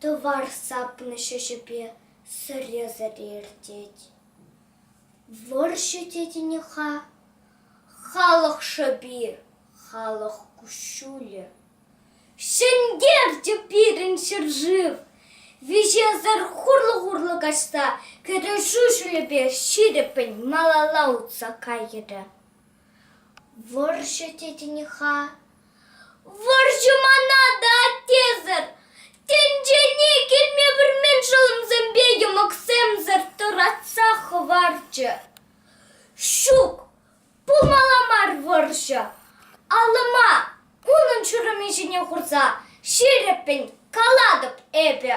Тӑвар сапнӑ ҫӗҫӗпе сӗре-сӗре иртет. Вӑрҫӑ тетӗн-и-ха? Халӑх шӑпи, халӑх куҫҫулӗ. Ҫӗнтерчӗ пирӗн ҫӗршыв! Виҫесӗр хурлӑ-хурлӑ каҫса кӗрешӳ ҫулӗпе ҫирӗппӗн малалла утса кайрӗ. Вӑрҫӑ тетӗн-и-ха? Вӑрҫӑ мана та тесӗр. Тӗнчене килме пӗлмен шӑлӑмсемпе йӑмӑксемсӗр тӑратса хӑварчӗ. Ҫук, пулмалла мар вӑрҫӑ. Алӑма, унӑн ҫурӑмӗ ҫине хурса, ҫирӗппӗн калатӑп эпӗ.